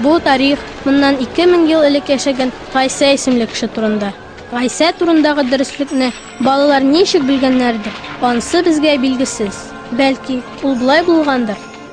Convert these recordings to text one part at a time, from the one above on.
Бу тарих моннан 2000 ел элек яшәгән Гайсә исемле кеше турында. Гайсә турындагы дөреслекне балалар ничек белгәннәрдер, ансы безгә билгесез. Бәлки, ул болай булгандыр?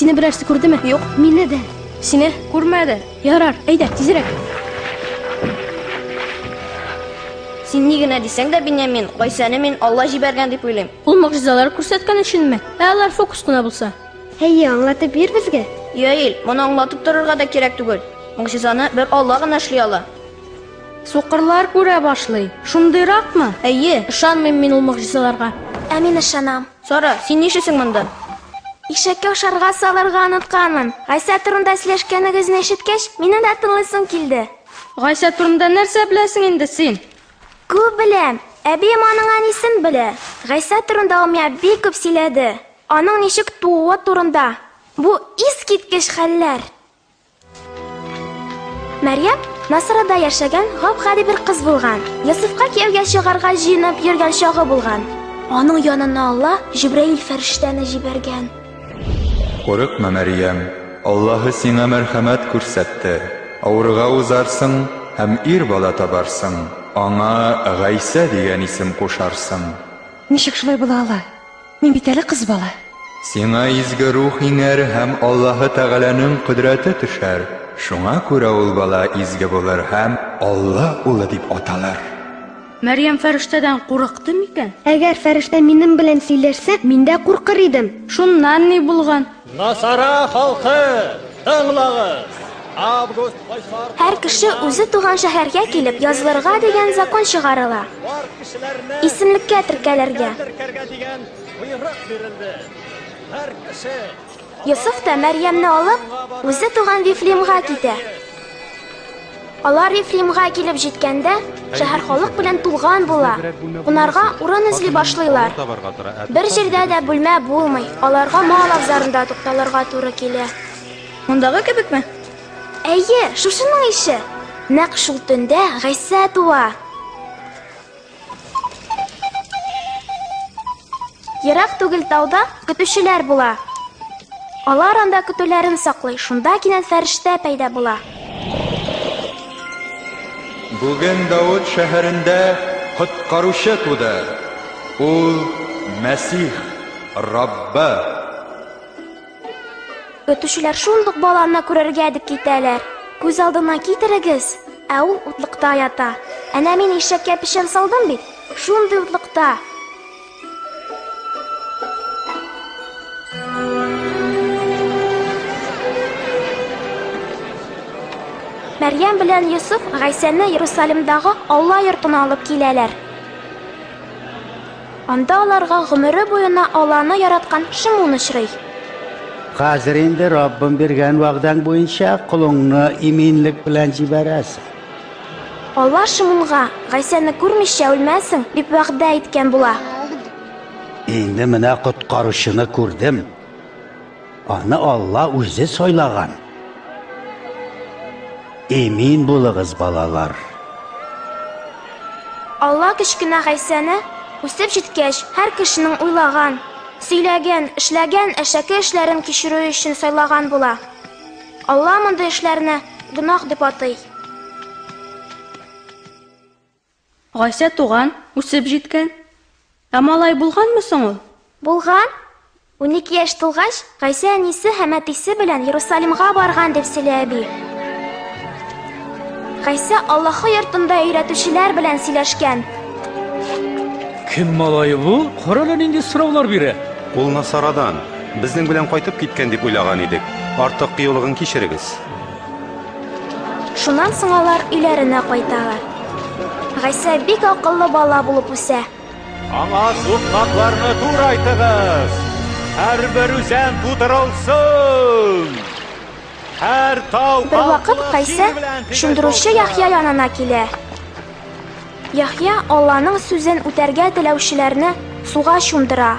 Сине берәрсе күрдеме? Юк, мине дә. Сине күрмәде. Ярар, әйдә, тизрәк. Син ни генә дисәң дә, Беньямин, Гайсәне мин Алла җибәргән дип уйлыйм. Ул могҗизалар күрсәткән өченме? Ә алар фокус кына булса? Әйе, аңлатып бир безгә. Яил, моны аңлатып торырга да кирәк түгел. Могҗизаны бер Алла гына эшли ала. Сукырлар күрә башлый. Шундыйракмы? Әйе, ышанмыйм мин ул могҗизаларга. Ә мин ышанам. Сара, син нишлисең монда? Ишәккә ашарга салырга онытканмын. Гайсә турында сөйләшкәнегезне ишеткәч, минем дә тыңлыйсым килде. Гайсә турында нәрсә беләсең инде син? Күп беләм. Әбием аның әнисен белә. Гайсә турында ул миңа бик күп сөйләде. Аның ничек тууы турында бу искиткеч хәлләр! Мәрьям Насырада яшәгән гап-гади бер кыз булган. Йосыфка кияүгә чыгарга җыенып йөргән чагы булган. Аның янына Алла Җибраил фәрештәне җибәргән. Курыкма, Мәрьям, Аллаһы сиңа мәрхәмәт күрсәтте, авырга узарсың һәм ир бала табарсың, аңа Гайсә дигән исем кушарсың. Ничек шулай була ала? Мин бит әле кыз бала. Сиңа изге рух иңәр һәм Аллаһы Тәгаләнең кодрәте төшәр. Шуңа күрә ул бала изге булыр һәм Алла улы дип аталыр. Мәрьям фәрештәдән курыкты микән? Әгәр фәрештә минем белән сөйләшсә, мин дә куркыр идем. Шуннан ни булган? Насара халкы, тыңлагыз! Һәр кеше үзе туган шәһәргә килеп язылырга дигән закон чыгарыла. Исемлеккә теркәлергә. Йосыф та Мәрьямне алып, үзе туган Вифлеемга китә. Алар Ефримга килеп җиткәндә, шәһәр халык белән тулган була. Кунарга урын эзли башлыйлар. Бер җирдә дә бүлмә булмый. Аларга мал абзарында тукталырга туры килә. Мондагы кебекме? Әйе, шушының ише. Нәкъ шул төндә Гайсә туа. Ерак түгел тауда көтүчеләр була. Алар анда көтүләрен саклый, шунда кинәт фәрештә пәйда була. Бүген Дауд шәһәрендә коткаручы туды. Ул Мәсих, Раббы. Көтүчеләр шундук баланы күрергә дип китәләр. Күз алдына китерегез, ә ул утлыкта ята. Әнә мин ишәккә печән салдым бит, шундый утлыкта. Мәрьям белән Йосыф Гайсәне Иерусалимдагы Алла йортына алып киләләр. Анда аларга гомере буена Алланы яраткан Шимун очрый. Хәзер инде Раббым биргән вәгъдәң буенча колыңны иминлек белән җибәрәсең. Алла Шимунга, Гайсәне күрмичә үлмәссең, дип вәгъдә иткән була. Инде менә коткаручыны күрдем. Аны Алла үзе сайлаган. Эмин булыгыз, балалар. Алла кечкенә Гайсәне үсеп җиткәч, һәр кешенең уйлаган, сөйләгән, эшләгән әшәке эшләрен кичерүе өчен сайлаган була. Алла мондый эшләрне гөнаһ дип атый. Гайсә туган, үсеп җиткән. Ә малай булганмы соң ул? Булган. Унике яшь тулгач, Гайсә әнисе һәм әтисе белән Ерусалимга барган, дип сөйли әби. Гайсә Аллаһы йортында өйрәтүчеләр белән сөйләшкән. Кем малае бу? Карале нинди сораулар бирә. Ул Насарадан. Безнең белән кайтып киткән дип уйлаган идек. Артык кыюлыгын кичерегез. Шуннан соң алар өйләренә кайталар. Гайсә бик акыллы бала булып үсә. Аңа сукмакларны турайтыгыз. Һәрбер үзән тутырылсын. Һәр тау Бер вакыт Гайсә шундыручы Яхья янына килә. Яхья Алланың сүзен үтәргә теләүчеләрне суга чумдыра.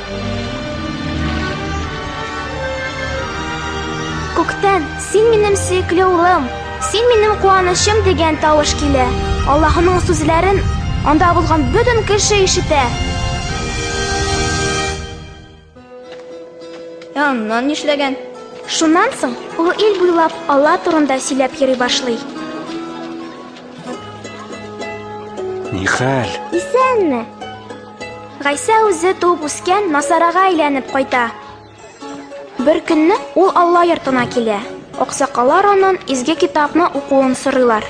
Күктән, син минем сөекле улым, син минем куанычым дигән тавыш килә. Аллаһының сүзләрен анда булган бөтен кеше ишетә. Аннан нишләгән? Шуннан соң ул ил буйлап Алла турында сөйләп йөри башлый. Нихәл? Исәнме? Гайсә үзе туып үскән Насарага әйләнеп кайта. Бер көнне ул Алла йортына килә. Аксакалар анын изге китапны укуын сорыйлар.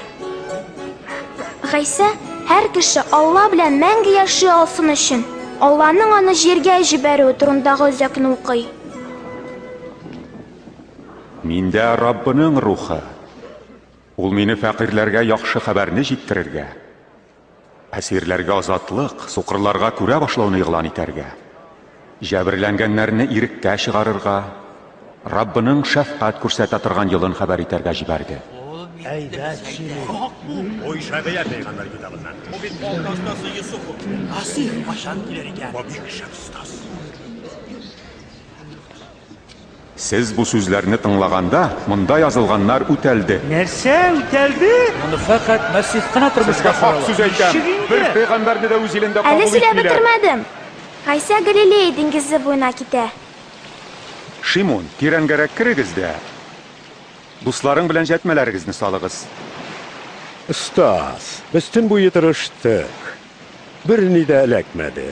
Гайсә һәр кеше Алла белән мәңге яши алсын өчен, Алланың аны җиргә җибәрүе турындагы үзәкне укый. Миндә Раббының рухы. Ул мине фәкыйрьләргә яхшы хәбәрне җиткерергә, Әсирләргә азатлык, сукырларга күрә башлауны игълан итәргә, җәберләнгәннәрне иреккә чыгарырга, Раббының шәфкать күрсәтә торган елын хәбәр итәргә җибәрде. Әйбәт сөйли. Бу Ишагыя пәйгамбәр китабыннан. Бу бит балта остасы Йосыф. Асир кайчан килер икән? Бу бик шәп остаз. Сез бу сүзләрне тыңлаганда, монда язылганнар үтәлде. Нәрсә үтәлде? Моны фәкать Мәсих кына тормышка ашыра ала. Сезгә хак сүз әйтәм, бер пәйгамбәрне дә үз илендә кабул итмиләр. Әле сөйләп бетермәдем. Гайсә Галилея диңгезе буена китә. Шимон, тирәнгәрәк керегез дә дусларың белән җәтмәләрегезне салыгыз. Остаз, без төн буе тырыштык, берни дә эләкмәде.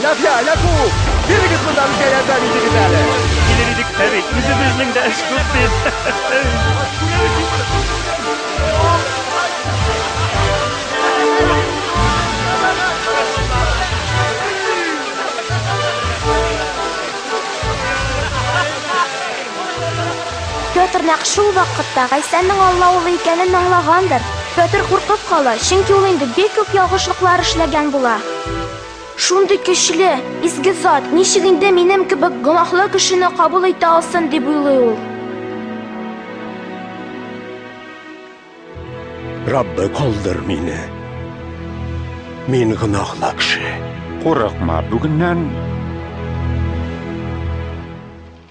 Ләфия, ләфу! Бирегез монда безгә ярдәм итегез әле. Килер идек тәби. Үзебезнең дә эш күп бит. Петр нәкъ шул вакытта Гайсәннең Алла улы икәнен аңлагандыр. Петр куркып кала, чөнки ул инде бик күп ялгышлыклар эшләгән була. Шундый көчле, изге Зат ничек инде минем кебек гөнаһлы кешене кабул итә алсын, дип уйлый ул. Раббы, калдыр мине. Мин гөнаһлы кеше. Курыкма, бүгеннән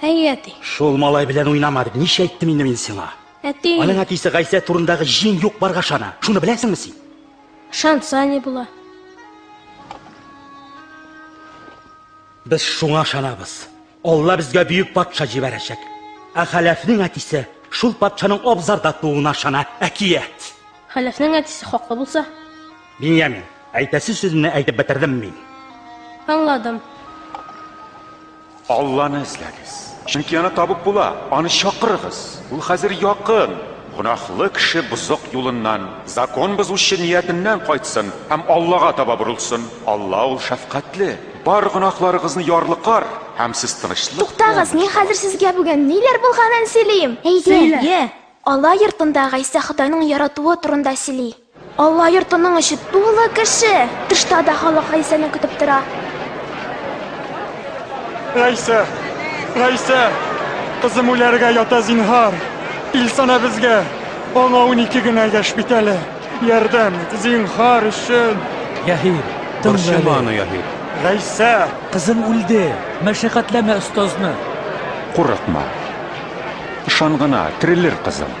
Әй, әти. Шул малай белән уйнама дип ничә әйттем инде мин сиңа? Әти. Аның әтисе Гайсә турындагы җин юк барга шана. Шуны беләсеңме син? Шанса ни була? Без шуңа шанабыз. Алла безгә бөек патша җибәрәчәк. Ә Хәләфнең әтисе шул патшаның абзарда тууына шана. Әкият. Хәләфнең әтисе хаклы булса, Биньямин, әйтәсе сүземне әйтеп бетердем мин. Аңладым. Алланы эзләгез. Чөнки аны табып була. Аны чакырыгыз. Ул хәзер якын. Гөнаһлы кеше бозык юлыннан, закон бозучы ниятеннән кайтсын һәм Аллага таба борылсын. Алла ул шәфкатьле. Бар гөнаһларыгызны ярлыкар һәм сез тынычлык. Туктагыз, мин хәзер сезгә бүген ниләр булганын сөйлим. Әйдә. Йә, Алла йортында Гайсә Ходайның яратуы турында сөйли. Алла йортының эче тулы кеше. Тышта да халык Гайсәне көтеп тора. Гайсә, Гайсә, кызым үләргә ята зинһар. Илсана безгә, аңа унике генә яшь бит әле. Ярдәм ит, зинһар өчен. Яһир, тыңла әле. Борчыма аны, Яһир. Гайсә! Кызым үлде, мәшәкатьләмә остазны. Курыкма. Ышан гына, терелер кызым.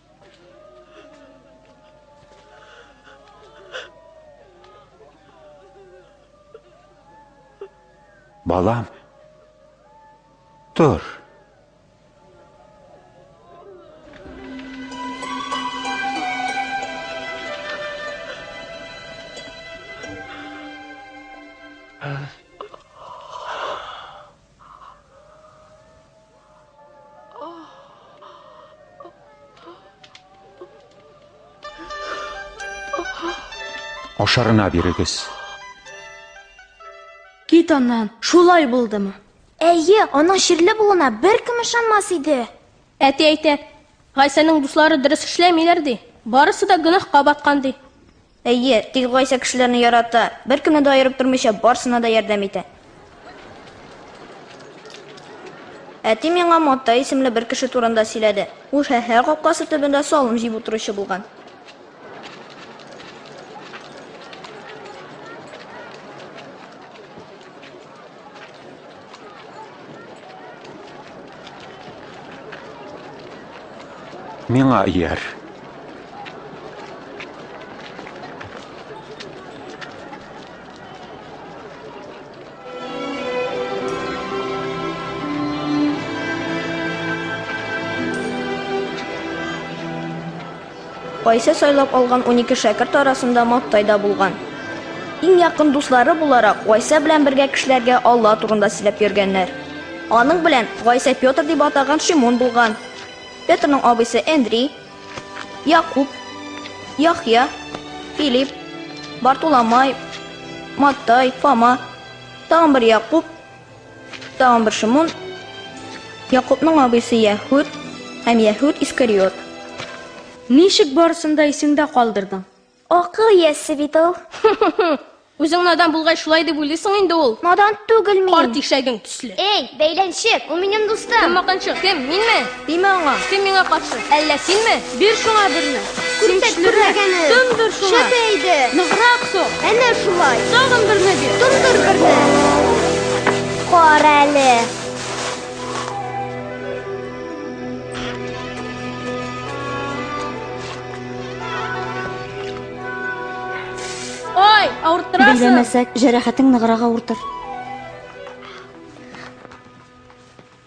Балам, тор. Ашарына бирегез. Кит аннан, шулай булдымы? Әйе, аның ширле булуына беркем ышанмас иде. Әти әйтә, Гайсәнең дуслары дөрес эшләмиләр ди. Барысы да гөнаһка баткан ди. Әйе, тик Гайсә кешеләрне ярата, беркемне дә аерып тормыйча, барсына да ярдәм итә. Әти миңа Маттай исемле бер кеше турында сөйләде. Ул шәһәр капкасы төбендә салым җыеп утыручы булган. Миңа ияр. Айсә сайлап алган унике шәкерт арасында Маттай да булган. Иң якын дуслары буларак, Гайсә белән бергә кешеләргә Алла турында сөйләп йөргәннәр. Аның белән Гайсә Петр дип атаган Шимон булган. Петрның абыйсы Әндри, Якуб, Яхъя, Филип, Бартуламай, Маттай, Фома, тагын бер Якуб, Тагын бер Шимон, Якубның абыйсы Яһүд һәм Яһүд Искариот. Ничек барысын да исеңдә калдырдың? Акыл иясе бит ул. Үзең надан булгай шулай дип уйлыйсың инде ул. Надан түгел мин. Карт ишәгең төсле. Эй, бәйләнчек, ул минем дустым. Кем маканчык, кем, минме? Тимә аңа! Син миңа каршы! Әллә синме? Бир шуңа берне! Син көчлерәк! Тондыр шуңа! Шәп әйде! Ныграк сук! Әнә шулай! Тагын берне бир! Тондыр берне! Карале! Ой, авырттырасың! Белгәмәсәк, җәрәхәтең ныграк авыртыр.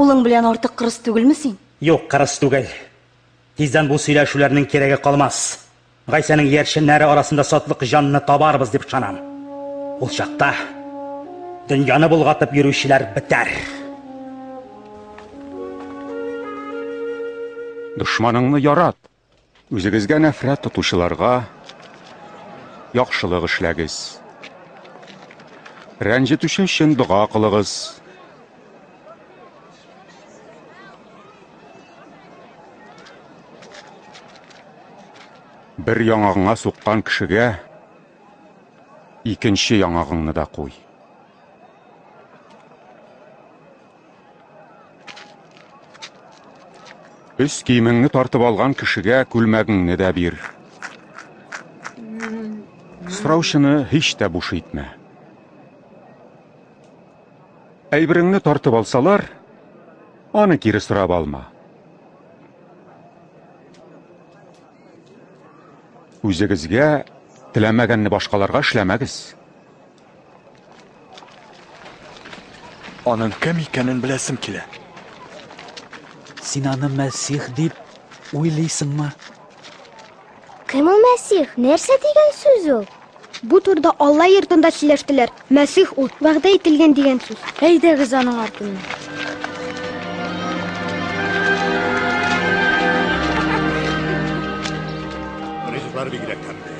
Улың белән артык кырыс түгелме син? Юк, кырыс түгел. Тиздән бу сөйләшүләрнең кирәге калмас. Гайсәнең иярченнәре арасында сатлык җанны табарбыз дип ышанам. Ул чакта дөньяны булгатып йөрүчеләр бетәр. Дошманыңны ярат, Үзегезгә нәфрәт тотучыларга яхшылык эшләгез. Рәнҗетүче өчен дога кылыгыз. Бер яңагыңа суккан кешегә икенче яңагыңны да куй. Өс киемеңне тартып алган кешегә күлмәгеңне дә бир. Сораучыны һич тә буш итмә. Әйбереңне тартып алсалар, аны кире сорап алма. Үзегезгә теләмәгәнне башкаларга эшләмәгез. Аның кем икәнен беләсем килә. Син аны Мәсих дип уйлыйсыңмы? Кем ул Мәсих? Нәрсә дигән сүз ул? Бу турда Алла йортында сөйләштеләр. Мәсих ул, вәгъдә ителгән дигән сүз. Әйдәгез аның артыннан. Ризыклар бигрәк тәмле.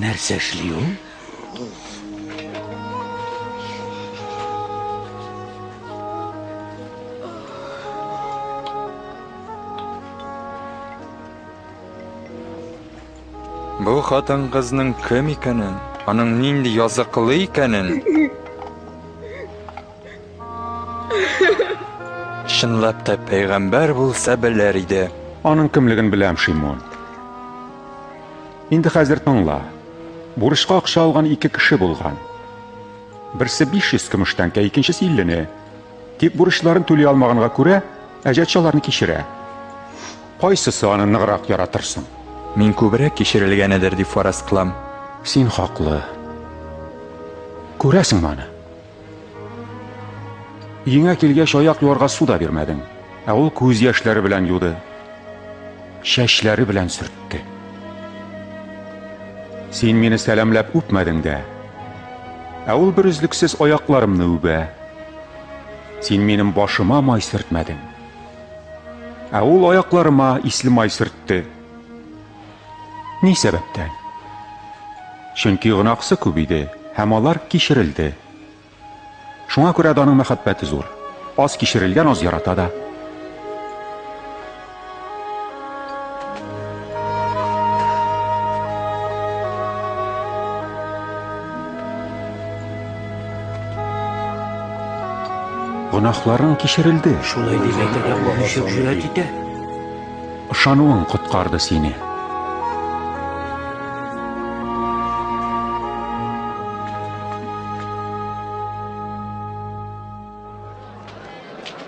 Нәрсә эшли ул? Бу хатын-кызның кем икәнен, аның нинди языклы икәнен Чынлап та пәйгамбәр булса белер иде. Аның кемлеген беләм, Шимон. Инде хәзер тыңла. Бурычка акча алган ике кеше булган. Берсе 500 көмеш тәңкә, икенчесе 50-не. Тик бурычларын түли алмаганга күрә, әҗәт шаларны кичерә. Кайсысы аны ныграк яратырсың? Мин күбрәк кичерелгәнедер дип фараз кылам. Син хаклы. Күрәсең моны. Өеңә килгәч, аяк юарга су да бирмәдең. Ә ул күз яшьләре белән юды. Чәчләре белән сөртте. Син мине сәламләп үпмәдең дә. Ә ул бер өзлексез аякларымны үбә. Син минем башыма май сөртмәдең. Ә ул аякларыма исле май сөртте. Ни сәбәптән? Чөнки гөнаһсы күп иде һәм алар кичерелде. Шуңа күрә дә аның мәхәббәте зур. Аз кичерелгән аз ярата да. Гөнаһларың кичерелде. Шулай дип әйтергә алып җөрәт итә. Ышануың коткарды сине.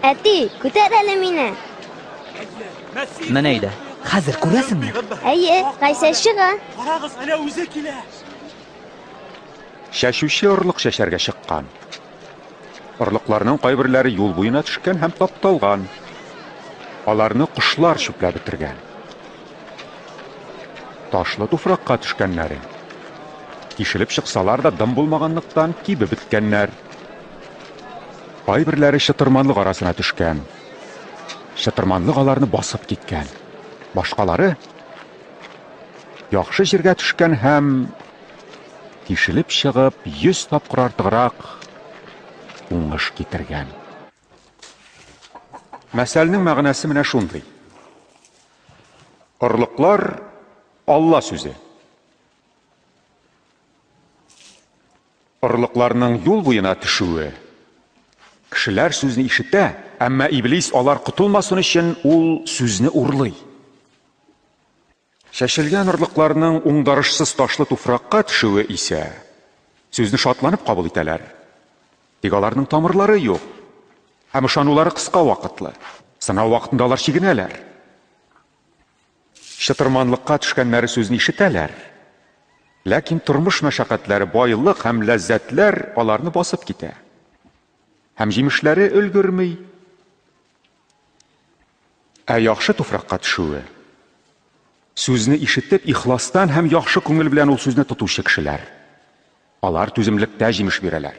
Әти, күтәр әле мине. Менә иде. Хәзер күрәсеңме? Әйе, Гайсә чыга. Карагыз, әнә үзе килә. Чәчүче орлык чәчәргә чыккан. Орлыкларның кайберләре юл буена төшкән һәм тапталган. Аларны кошлар чүпләп бетергән. Ташлы туфракка төшкәннәре. Тишелеп чыксалар да дым булмаганлыктан кибеп беткәннәр. Кайберләре чытырманлык арасына төшкән. Чытырманлык аларны басып киткән. Башкалары яхшы җиргә төшкән һәм Тишелеп чыгып, 100 тапкыр артыграк уңыш китергән. Мәсәлнең мәгънәсе менә шундый. Орлыклар Алла сүзе. Орлыкларның юл буена төшүе кешеләр сүзне ишетә, әмма иблис алар котылмасын өчен ул сүзне урлый. Чәчелгән орлыкларның уңдарышсыз ташлы туфракка төшүе исә, сүзне шатланып кабул итәләр. Тик аларның тамырлары юк һәм ышанулары кыска вакытлы. Сынау вакытында алар чигенәләр. Чытырманлыкка төшкәннәре сүзне ишетәләр. Ләкин тормыш мәшәкатьләре, байлык һәм ләззәтләр аларны басып китә. Һәм җимешләре өлгерми. Ә яхшы туфракка төшүе, сүзне ишетеп, ихластан һәм яхшы күңел белән ул сүзне тотучы кешеләр. Алар түземлектә җимеш бирәләр.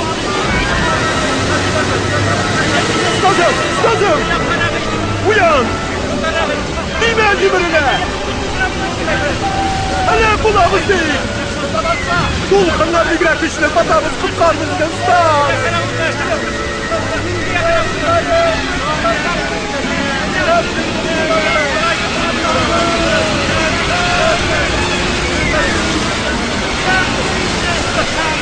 Кызым, кызым! Уян! Нимә җимерелә? Әле булабыз дейк! Дулкыннар бигрәк көчле, батабыз, коткармыз икән, стар!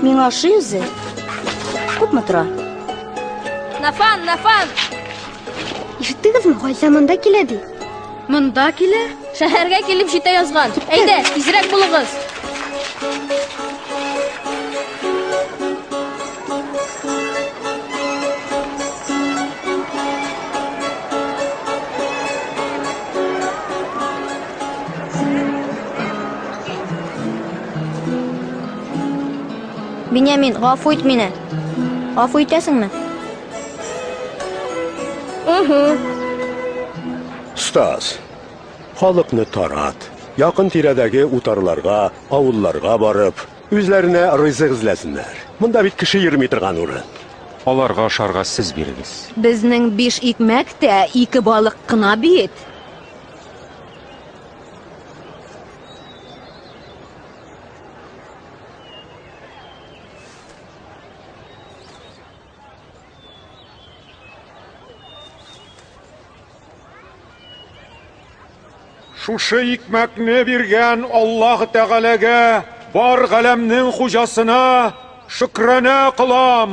Миңа ошый үзе. Күпме тора? Нафан, Нафан! Ишеттегезме, Гайса монда килә ди. Монда килә? Шәһәргә килеп җитә язган. Әйдә, тизрәк булыгыз. Бинямин, гафу ит мине. Гафу итәсеңме? Стас, халыкны тарат. Якын тирәдәге утарларга, авылларга барып, Үзләренә рызык эзләсеннәр. Монда бит кеше йөрми торган урын. Аларга ашарга сез бирегез. Безнең биш икмәк тә ике балык кына бит. Шушы икмәкне биргән Аллаһ Тәгаләгә бар галәмнең хуҗасына шөкранә кылам.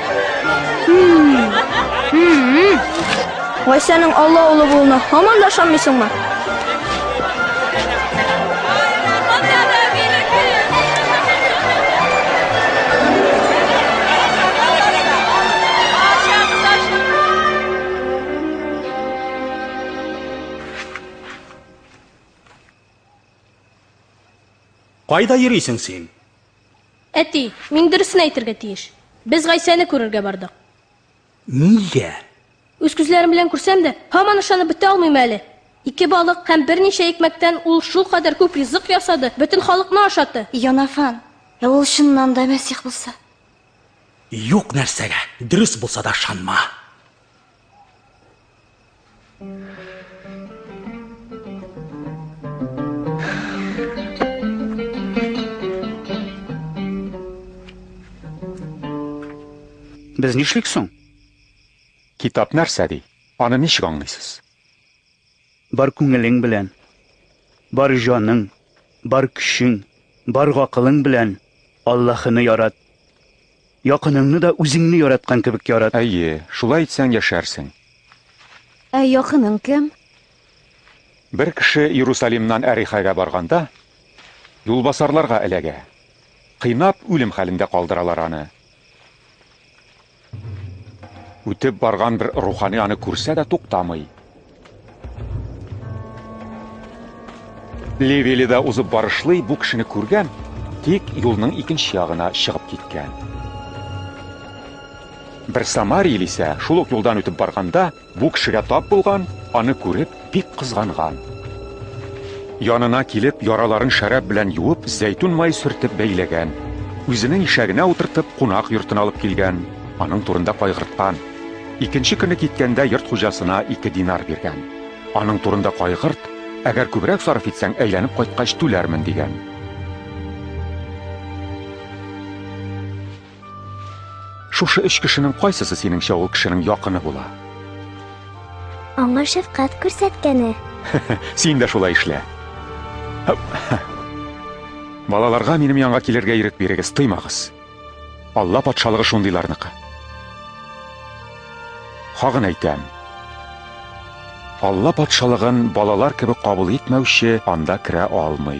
Гайсәнең Алла улы булуына һаман да ышанмыйсыңмы? Кайда йөрисең син? Әти, мин дөресен әйтергә тиеш. Без Гайсәне күрергә бардык. Нигә? Үз күзләрем белән күрсәм дә, һаман ышанып бетә алмыйм әле. Ике балык һәм берничә икмәктән ул шул кадәр күп ризык ясады, бөтен халыкны ашатты. Янафан, ә ул чыннан да Мәсих булса? Юк нәрсәгә, дөрес булса да ышанма. Без нишлик соң? Китап нәрсә ди? Аны ничек аңлыйсыз? Бар күңелең белән, бар җаның, бар көчең, бар гакылың белән Аллаһыны ярат. Якыныңны да үзеңне яраткан кебек ярат. Әйе, шулай итсәң яшәрсең. Ә якының кем? Бер кеше Иерусалимнан Әрихәгә барганда, юлбасарларга эләгә. Кыйнап, үлем хәлендә калдыралар аны. Үтеп барган бер рухани аны күрсә дә туктамый. Левили да узып барышлый бу кешене күргән, тик юлның икенче ягына чыгып киткән. Бер самарил исә шул ук юлдан үтеп барганда Бу кешегә тап булган, аны күреп, бик кызганган. Янына килеп, яраларын шәраб белән юып, зәйтүн май сөртеп бәйләгән. Үзенең ишәгенә утыртып, кунак йортына алып килгән, аның турында кайгырткан. Икенче көне киткәндә йорт хуҗасына ике динар биргән. Аның турында кайгырт, әгәр күбрәк сарыф итсәң, әйләнеп кайткач түләрмен, дигән. Шушы өч кешенең кайсысы синеңчә ул кешенең якыны була? Аңа шәфкать күрсәткәне. Син дә шулай эшлә. Балаларга минем янга килергә ирек бирегез, тыймагыз. Алла патшалыгы шундыйларныкы. Хагын әйтәм. Алла патшалыгын балалар кебек кабул итмәүче анда керә алмый.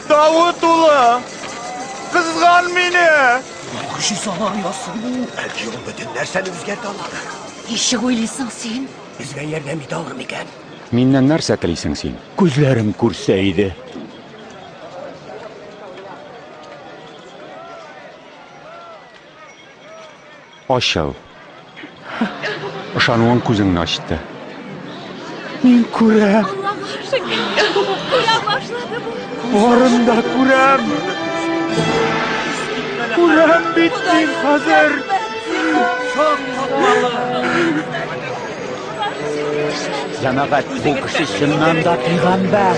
Давыт улы, кызган мине! Яхшы салар ясый бу. Әлки ул бөтен нәрсәне үзгәртә ала. Ничек уйлыйсың син? Безгә ярдәм итә алыр микән? Миннән нәрсә телисең син? Күзләрем күрсә иде. Ачыл. Ышануың күзеңне ачты. Мин күрәм. Барын да күрәм. Күрәм бит мин хәзер. Җәмәгать, бу кеше чыннан да пигамбәр.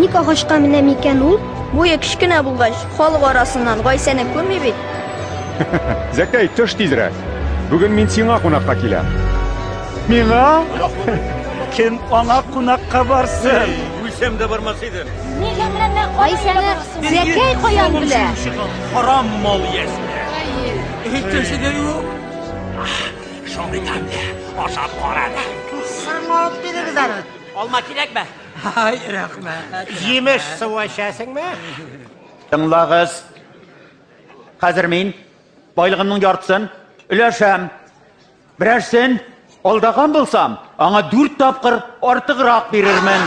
Ник агачка менә микән ул? Буе кечкенә булгач, халык арасыннан Гайсәне күрми бит. Зәкәй, төш тизрәк. Бүген мин сиңа кунакка киләм. Миңа? Кем аңа кунакка барсын? Үлсәм дә бармас идем. Нигә менә Гайсәне Зәкәй каян белә? Харам мал ясә. Һичши дә юк. Шундый тәмле, ашап кара да. Сырма алып бирегез әле. Алма кирәкме? Ай, рәхмәт. Җимеш суы эчәсеңме? Тыңлагыз. Хәзер мин байлыгымның яртысын өләшәм. Берәрсен алдаган булсам, аңа дүрт тапкыр артыграк бирермен.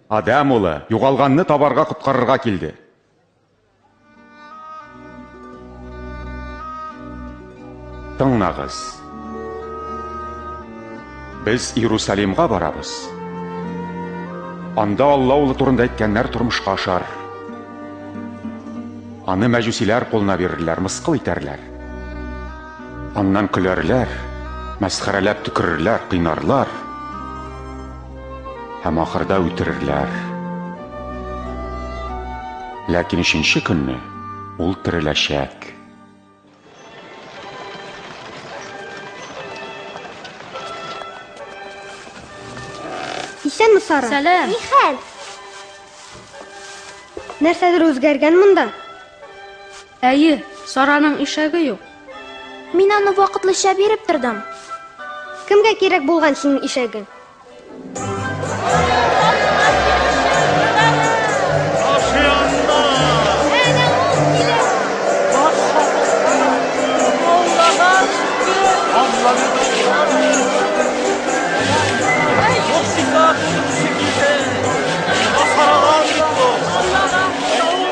Адәм улы, югалганны табарга коткарырга килде. Тыңнагыз. Без Иерусалимга барабыз. Анда Алла улы турында әйткәннәр тормышка ашар. Аны мәҗүсиләр кулына бирерләр, мыскыл итәрләр. Аннан көләрләр, мәсхәрәләп төкерерләр, кыйнарлар һәм ахырда үтерерләр. Ләкин өченче көнне ул тереләчәк. Исәнме, Сара? Сәлам. Нихәл? Нәрсәдер үзгәргән монда? Әйе, Сараның ишәге юк. Мин аны вакытлыча биреп тордым. Кемгә кирәк булган синең ишәгең?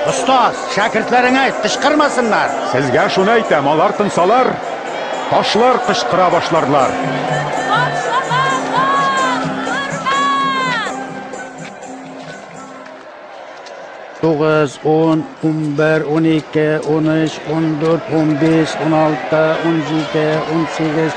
Остаз, Шәкертләреңә әйт, кычкырмасыннар! Сезгә шуны әйтәм, алар тынсалар, ташлар кычкыра башларлар. Тугыз, ун, унбер, унике, уныч, ундүрт, унбиш, уналты, унҗиде, унсигез,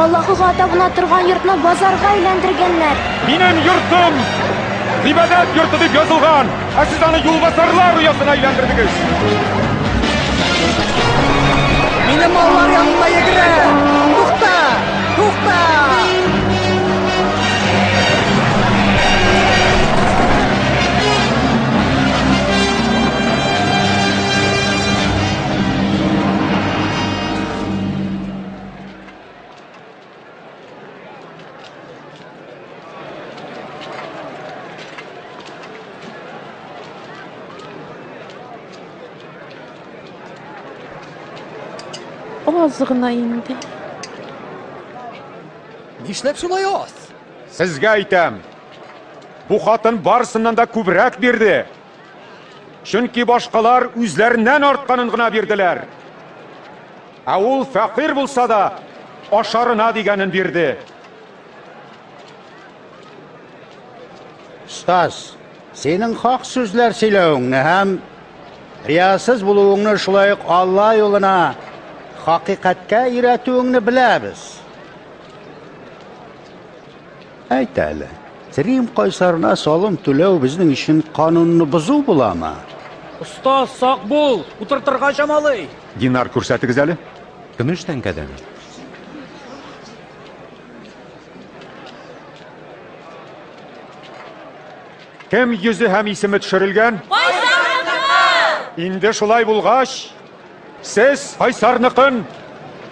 Аллаһыга табына торган йортны базарга әйләндергәннәр. Минем йортым гыйбадәт йорты дип язылган, ә сез аны юлбасарлар оясына әйләндердегез. Минем маллар янына йөгерә! Тукта! Тукта! Аз гына инде. Нишләп шулай аз? Сезгә әйтәм. Бу хатын барсыннан да күбрәк бирде. Чөнки башкалар үзләреннән артканын гына бирделәр. Ә ул фәкыйрь булса да, ашарына дигәнен бирде. Остаз, синең хак сүзләр сөйләвеңне һәм риясыз булуыңны шулай ук Алла юлына хакыйкатькә өйрәтүеңне беләбез. Әйт әле, Рим кайсарына салым түләү безнең өчен канунны бозу буламы? Остаз, сак бул, утыртырга чамалый. Динар, күрсәтегез әле. Көмеш тәңкәдәме? Кем йөзе һәм исеме төшерелгән? Кайсарныкы! Инде шулай булгач, сез Кайсарныкын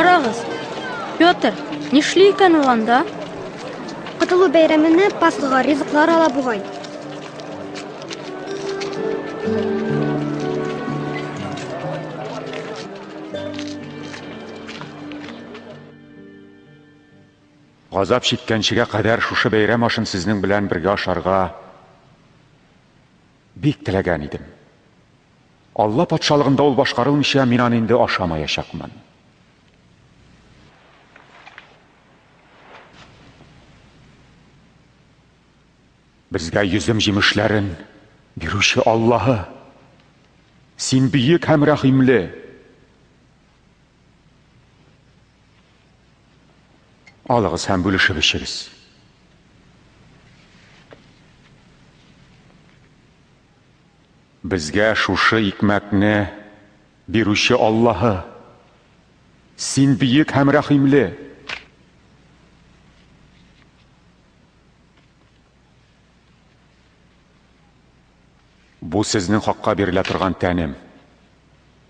Карагыз, Петр, нишли икән ул анда? Котылу бәйрәменә Пасхага ризыклар ала бугай. Газап чиккәнчегә кадәр шушы бәйрәм ашын сезнең белән бергә ашарга бик теләгән идем. Алла патшалыгында ул башкарылмыйча мин аны инде ашамаячакмын. Безгә йөзем җимешләрен бирүче Аллаһы, син бөек һәм рәхимле. Алыгыз һәм бүлешеп эчегез. Безгә шушы икмәкне бирүче Аллаһы, син бөек һәм рәхимле. Бу сезнең хакка бирелә торган тәнем.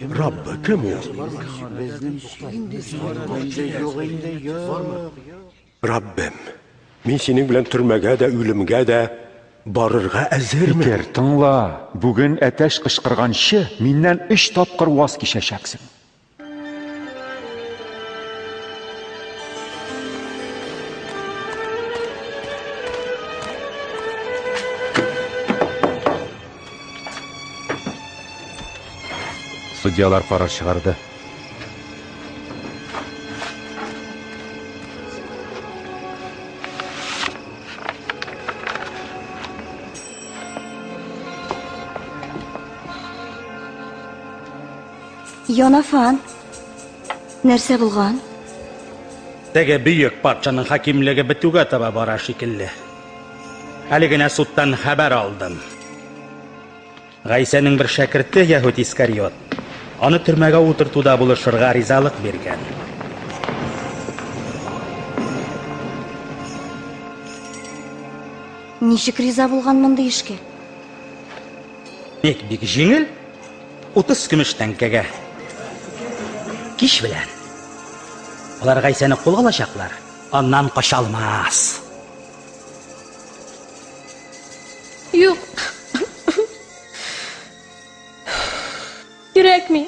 Раббы, кем ул? Раббем, мин синең белән төрмәгә дә, үлемгә дә барырга әзермен. Питер, тыңла, бүген әтәч кычкырганчы, миннән өч тапкыр ваз кичәчәксең. Судьялар карар чыгарды. Йонафан, нәрсә булган? Теге бөек патшаның хакимлеге бетүгә таба бара шикелле. Әле генә судтан хәбәр алдым. Гайсәнең бер шәкерте Яһүд Искариот аны төрмәгә утыртуда булышырга ризалык биргән. Ничек риза булган мондый эшкә? Ник бик җиңел? 30 көмеш тәңкәгә. Кич белән. Алар Гайсәне кулга алачаклар. Аннан кача алмас. Юк. Кирәкми.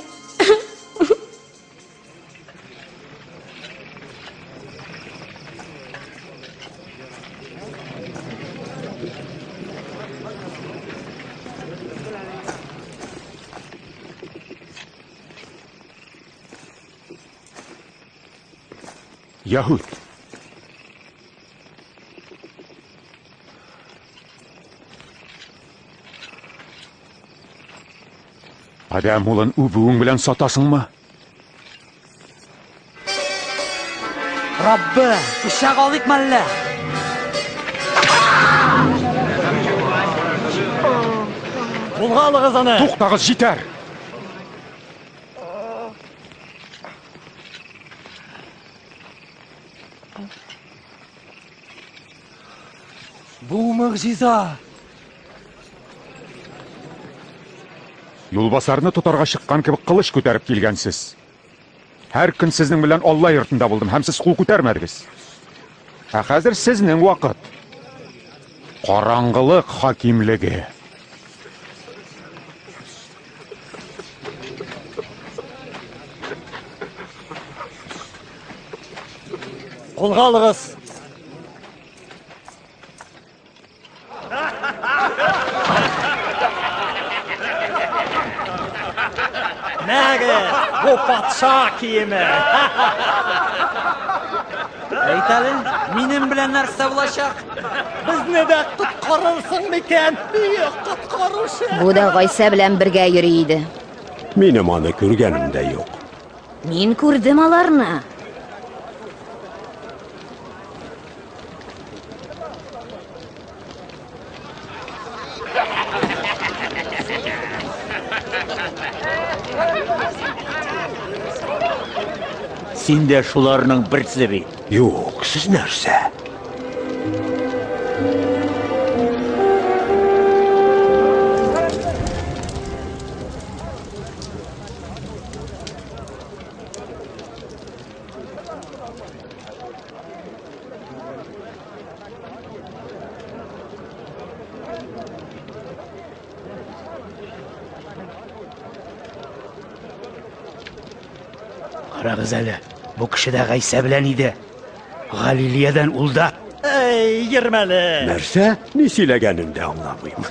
Яһүд. Адәм улын үбүең белән сатасыңмы? Раббы, пычак алыйк мәллә? Кулга алыгыз аны! Туктагыз, җитәр! Бу мөгъҗиза! Юлбасарны тотарга чыккан кебек кылыч күтәреп килгәнсез. Һәр көн сезнең белән Алла йортында булдым һәм сез кул күтәрмәдегез. Ә хәзер сезнең вакыт. Караңгылык хакимлеге. Кулга алыгыз. Мәгә, бу патша киеме. Әйт әле, минем белән нәрсә булачак? Безне дә коткарырсың микән? Бөек коткаручы. Бу да Гайсә белән бергә йөри иде. Минем аны күргәнем дә юк. Мин күрдем аларны. Син дә шуларның берсе бит. Юк, сез нәрсә? Карагыз әле, бу кеше дә Гайсә белән иде. Галилиядән ул да. Әй, йөрмәле. Нәрсә? Ни сөйләгәнен дә аңламыйм.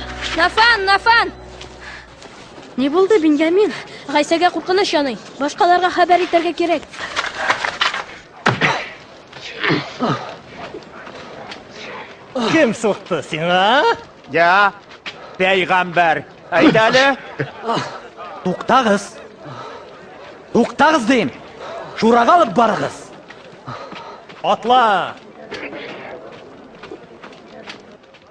Нафан, Нафан! Ни булды, Беньямин? Гайсәгә куркыныч яный. Башкаларга хәбәр итәргә кирәк. Кем сукты сиңа? Я, пәйгамбәр. Әйт әле. Туктагыз. Туктагыз дим. Шурага алып барыгыз. Атла.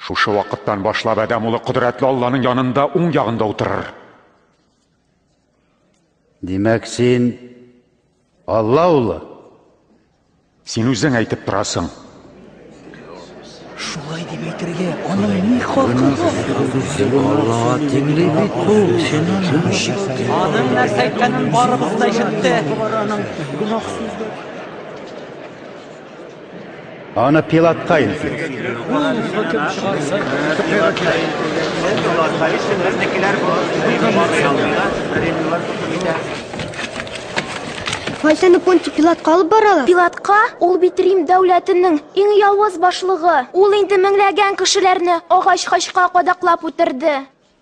Шушы вакыттан башлап адәм улы кодрәтле Алланың янында уң ягында утырыр. Димәк, син Алла улы? Син үзең әйтеп торасың. Шулай дип әйтергә, аның ни хакы бар? Аллага тиңли бит бу. Аның нәрсә әйткәнен барыбыз да ишетте. Гөнаһсыз Аны пилотка илтик. Файсаны Понти Пилатка алып баралар. Пилатка ул бит Рим дәүләтенең иң явыз башлыгы. Ул инде меңләгән кешеләрне агач хачка кадаклап үтерде.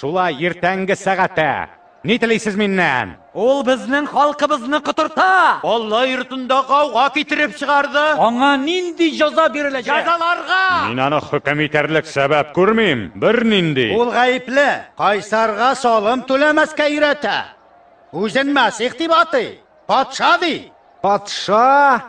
Шулай иртәнге сәгатә. Ни телисез миннән? Ул безнең халкыбызны котырта! Алла йортында гауга китереп чыгарды. Аңа нинди җаза биреләчәк? Җәзаларга! Мин аны хөкем итәрлек сәбәп күрмим. Бернинди. Ул гаепле. Кайсарга салым түләмәскә өйрәтә. Үзен мәсих дип атый. Патша ди. Патша?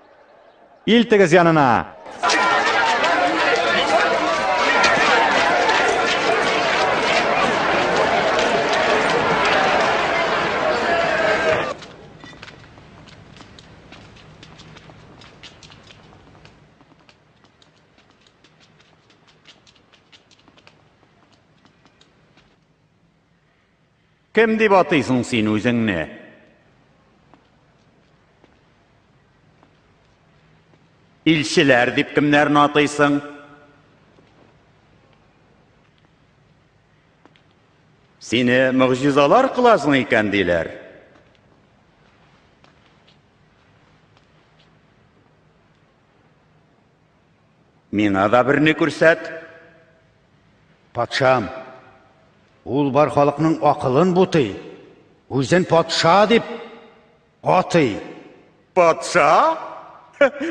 Илтегез янына. Кем дип атыйсың син үзеңне? Илчеләр дип кемнәрне атыйсың? Сине мөгъҗизалар кыласың икән диләр. Миңа да берне күрсәт. Патшам, ул бар халыкның акылын бутый, үзен патша дип атый. Патша?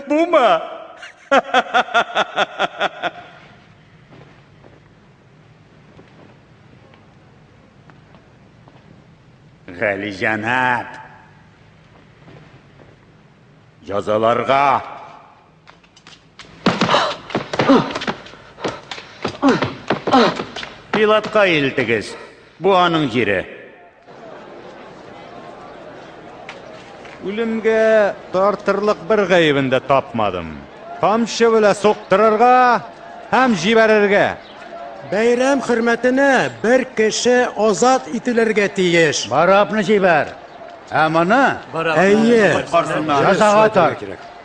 Бума? Галиҗәнап. Язаларга Пилатка илтегез. Бу аның җире. Үлемгә тартырлык бер гаебен дә тапмадым. Камчы белән соктырырга һәм җибәрергә. Бәйрәм хөрмәтенә бер кеше азат ителергә тиеш. Барабны җибәр. Ә моны Әйе. Язага тар.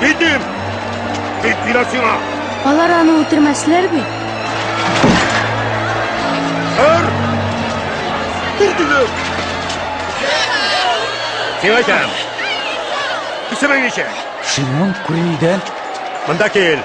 Китим! Кит бинасына! Алар аны үтермәсләр бит. Һәр! Күрдегез! Сиңа җан! Исемең ничек? Шимон Күрилдән. Монда кил!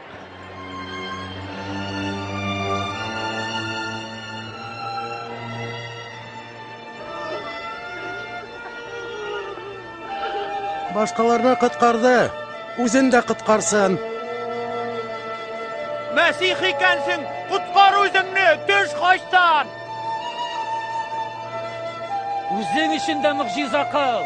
Башкаларны коткарды, үзен дә коткарсын. Мәсих икәнсең, коткар үзеңне, төш кайттан! Үзең өчен дә мөгъҗиза кыл!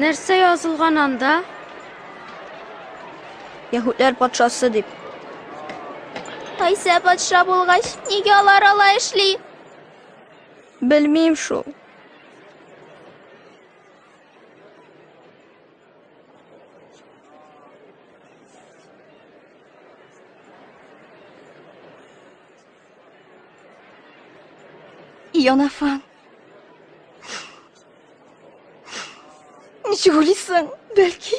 Нәрсә язылган анда? Яһүдләр патшасы дип. Кайсә патша булгач, нигә алар алай эшли? Белмим шул. Йонафан. Ничек уйлыйсың, бәлки?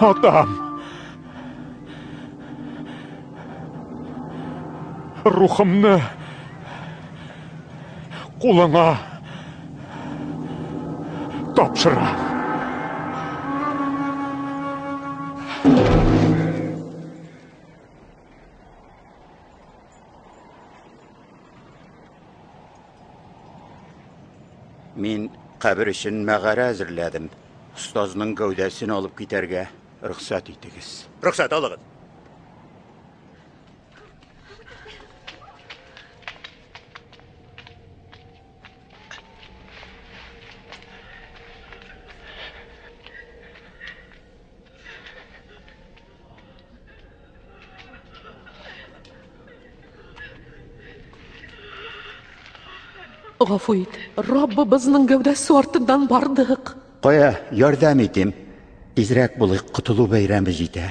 Атам! Рухымны кулыңа тапшыра. Мин кабер өчен мәгарә әзерләдем. Остазның гәүдәсен алып китәргә рөхсәт итегез. Рөхсәт алыгыз. Гафу ит, Раббыбызның гәүдәсе артыннан бардык. Кая, ярдәм итим. Тизрәк булыйк, котылу бәйрәме җитә.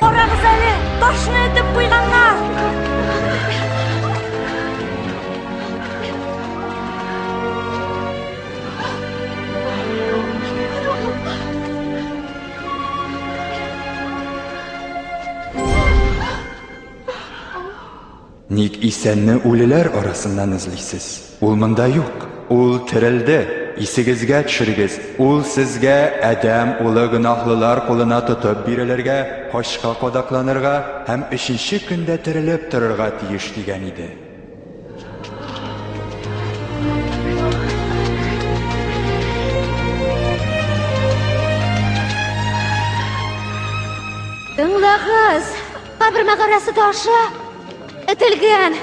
Карагыз әле, ташны этеп куйганнар. Ник исәнне үлеләр арасыннан эзлисез? Ул монда юк. Ул терелде. Исегезгә төшерегез, ул сезгә Адәм улы гөнаһлылар кулына тотып бирелергә, качка кадакланырга һәм өченче көндә терелеп торырга тиеш дигән иде. Тыңлагыз! Кабермә карасы ташы этелгән.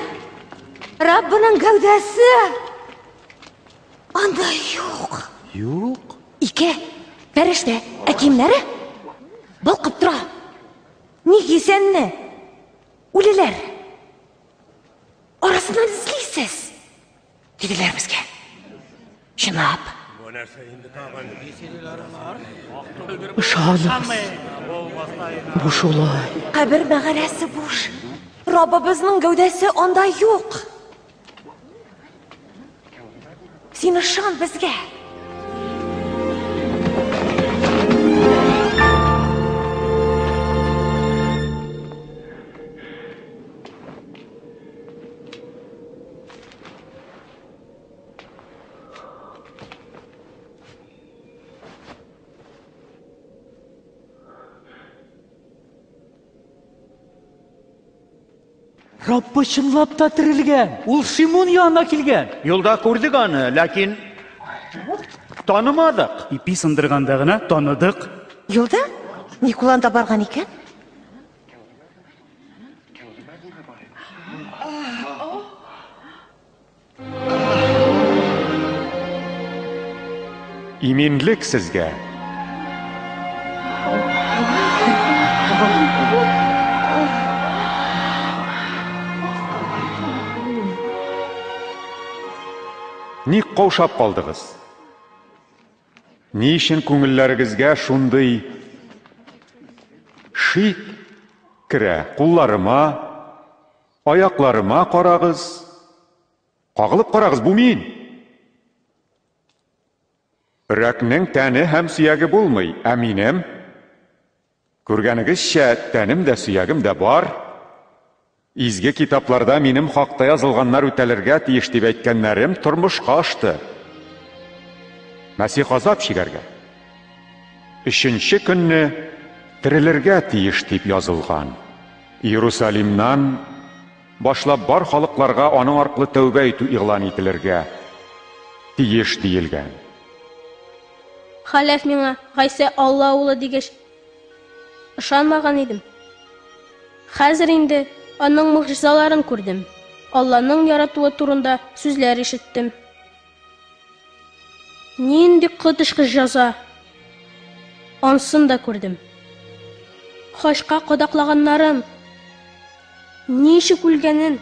Раббының гәүдәсе анда юк. Юк? Ике пәрәштә ә киемнәре балкып тора. Ни кисәнне? Үлеләр. Арасыннан эзлисез. Диделәр безгә. Чынлап. Бу нәрсә инде тагын? Ышаныгыз. Бу шулай. Кабер мәгарәсе буш. Раббыбызның гәүдәсе анда юк. Син ышан безгә. Раббы чынлап та терелгән. Ул Шимон янына килгән. Юлда күрдек аны, ләкин танымадык. Ипи сындырганда гына таныдык. Юлда Никулан да барган икән. Иминлек сезгә! Ник каушап калдыгыз? Ни өчен күңелләрегезгә шундый шик керә? Кулларыма, аякларыма карагыз. Кагылып карагыз, бу мин. Өрәкнең тәне һәм сөяге булмый, ә минем Күргәнегезчә, тәнем дә, сөягем дә бар. Изге китапларда минем хакта язылганнар үтәлергә тиеш дип әйткәннәрем тормышка ашты. Мәсих азап чигәргә, өченче көнне терелергә тиеш дип язылган. Иерусалимнан башлап бар халыкларга аның аркылы тәүбә итү игълан ителергә тиеш диелгән. Халәф миңа, Гайсә Алла улы дигәч, ышанмаган идем. Хәзер инде аның могҗизаларын күрдем, Алланың яратуы турында сүзләр ишеттем. Нинди коточкыч җаза! Ансын да күрдем. Хачка кадаклаганнарын, ничек үлгәнен,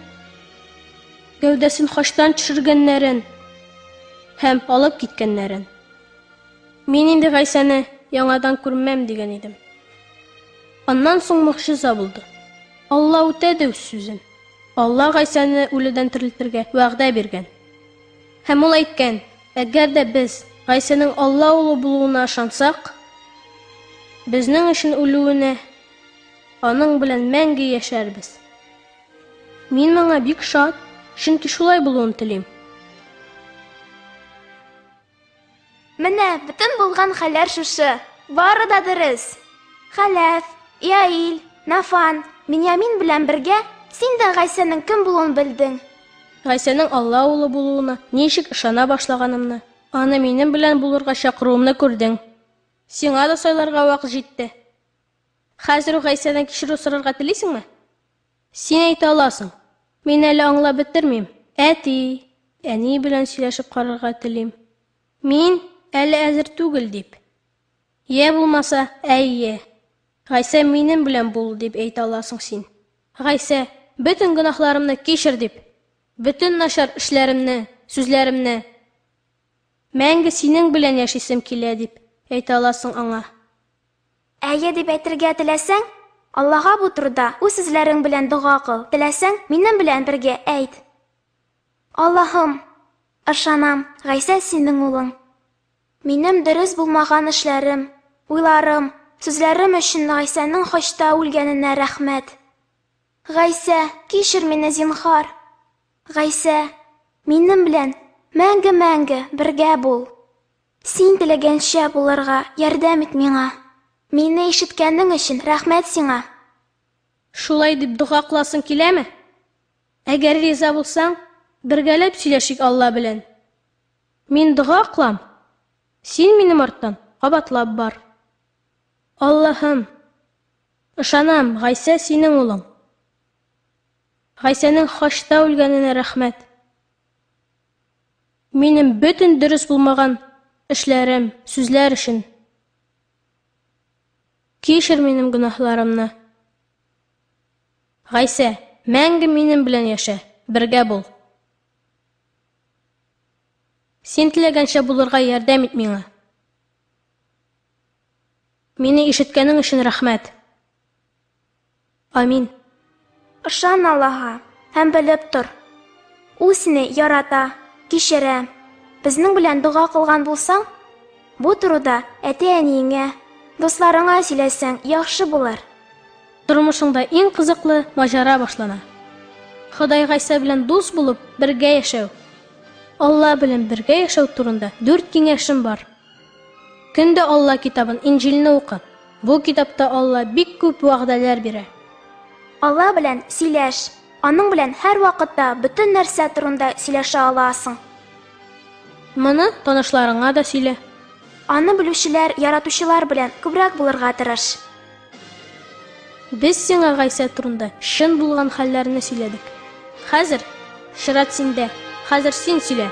Гәүдәсен хачтан төшергәннәрен һәм алып киткәннәрен. Мин инде Гайсәне яңадан күрмәм дигән идем. Аннан соң могҗиза булды. Алла үтәде үз сүзен. Алла Гайсәне үледән терелтергә вәгъдә биргән. Һәм ул әйткән, әгәр дә без Гайсәнең Алла улы булуына ышансак, безнең өчен үлүенә, аның белән мәңге яшәрбез. Мин моңа бик шат, чөнки шулай булуын телим. Менә бөтен булган хәлләр шушы. Бары да дөрес. Хәләф, Яил, Нафан, Миньямин белән бергә син дә Гайсәнең кем булуын белдең. Гайсәнең Алла улы булуына ничек ышана башлаганымны, аны минем белән булырга чакыруымны күрдең. Сиңа да сайларга вакыт җитте. Хәзер үк Гайсәдән кичерү сорарга телисеңме? Син әйтә аласың. Мин әле аңлап бетермим. Әти, әни белән сөйләшеп карарга телим. Мин әле әзер түгел, дип. Йә булмаса, әйе. Гайсә, минем белән бул, дип әйтә аласың син. Гайсә, бөтен гөнаһларымны кичер, дип. Бөтен начар эшләремне, сүзләремне. Мәңге синең белән яшисем килә, дип әйтә аласың аңа. Әйе дип әйтергә теләсәң, Аллага бу турыда үз сүзләрең белән дога кыл, теләсәң, минем белән бергә әйт. Аллаһым! Ышанам, Гайсә синең улың. Минем дөрес булмаган эшләрем, уйларым, сүзләрем өчен Гайсәнең хачта үлгәненә рәхмәт. Гайсә, кичер мине, зинһар! Гайсә, минем белән мәңге-мәңге бергә бул! Син теләгәнчә булырга ярдәм ит миңа. Мине ишеткәнең өчен рәхмәт сиңа. Шулай дип дога кыласың киләме? Әгәр риза булсаң, бергәләп сөйләшик Алла белән. Мин дога кылам, син минем арттан кабатлап бар. Аллаһым, ышанам, Гайсә синең улың. Гайсәнең Хачта үлгәненә рәхмәт. Минем бөтен дөрес булмаган эшләрем, сүзләр өчен. Кичер минем гөнаһларымны. Гайсә, мәңге минем белән яшә, бергә бул. Син теләгәнчә булырга ярдәм ит миңа. Мине ишеткәнең өчен рәхмәт. Амин. Ышан Аллаһа һәм белеп тор, Ул сине ярата, кичерә. Безнең белән дога кылган булсаң, бу турыда әти-әниеңә, дусларыңа сөйләсәң яхшы булыр. Тормышыңда иң кызыклы маҗара башлана. Ходай Гайсә белән дус булып, бергә яшәү. Алла белән бергә яшәү турында дүрт киңәшем бар. Көндә Алла китабын, Инҗилне укы. Бу китапта Алла бик күп вәгъдәләр бирә. Алла белән сөйләш. Аның белән һәрвакытта бөтен нәрсә турында сөйләшә аласың. Моны танышларыңа да сөйлә. Аны белүчеләр, яратучылар белән күбрәк булырга тырыш. Без сиңа Гайсә турында чын булган хәлләрне сөйләдек. Хәзер чират синдә. Хәзер син сөйлә.